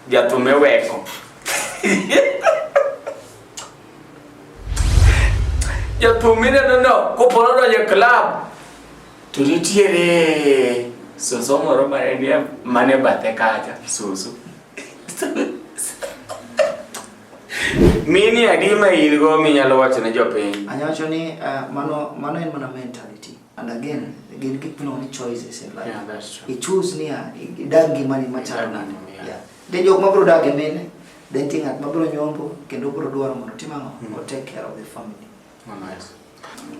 Jatume weko. Jatume mineno no kopo nodonjo e club to nitiere soso moro mane nie mane bathe kacha soso. Mini adi ma in go minyalo wacho ne jopiny? Anyacho ni uh, mano mano en mana mentality. And again, gin gik miluongo ni choices in life. Yeah, that's true. I choose niya, idag ngimani machalo nade. Yeah. Then jok mabiro dag e mine, then nitie ng'at mabiro nyombo kendo biro dwaro mondo otim ang'o? Mm. O take care of the family. Oh, nice.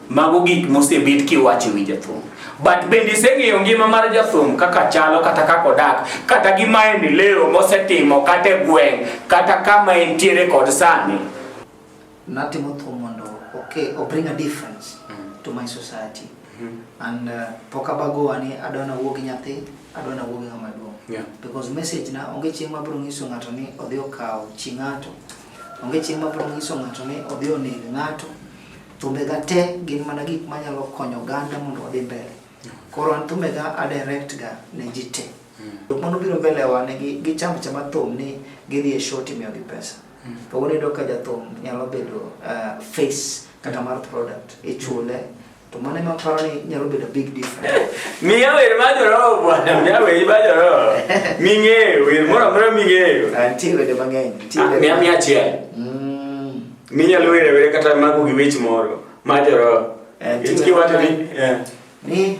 Mago gik mosebed kiwacho wi jathum. But bende iseng'eyo ngima mar jathum kaka chalo kata kaka odak, kata gi maendeleo mosetimo kata e gweng', kata kama entiere kod sani. Natimo thum mondo okay, o bring a difference mm. to my society. Mm -hmm. And uh, pok abago ani adwa nawuo gi nyathi, adwa nawuo gi ng'ama duong'. Yeah. Because message na onge chieng' ma bro nyiso ng'ato ni odhi okaw chi ng'ato. Onge chieng' ma bro nyiso ng'ato ni odhi oneg ng'ato. Thumbe ga te gin mana gik manyalo konyo ganda mondo odhi mbele. Yeah. Koro an thumbe ga a direct ga ne ji te. Mm. Jok mano biro mbele wa ne gi, gi cham chama thum ni gidhi e show timiyo gi pesa. Mm. Ka unedo ka jathum nyalo bedo uh, face kata mar product ichule to mane ma paro ni nyalo bedo big difference miya wer ma joroho bwana miya wer ma joroho ming'eyo wer moro amora ming'eyo ah, nitie wende mang'eny ah, miya miya achiel mm. minyalo were were kata mago gi wech moro ma joroho eh, kiwacho ni eh. ni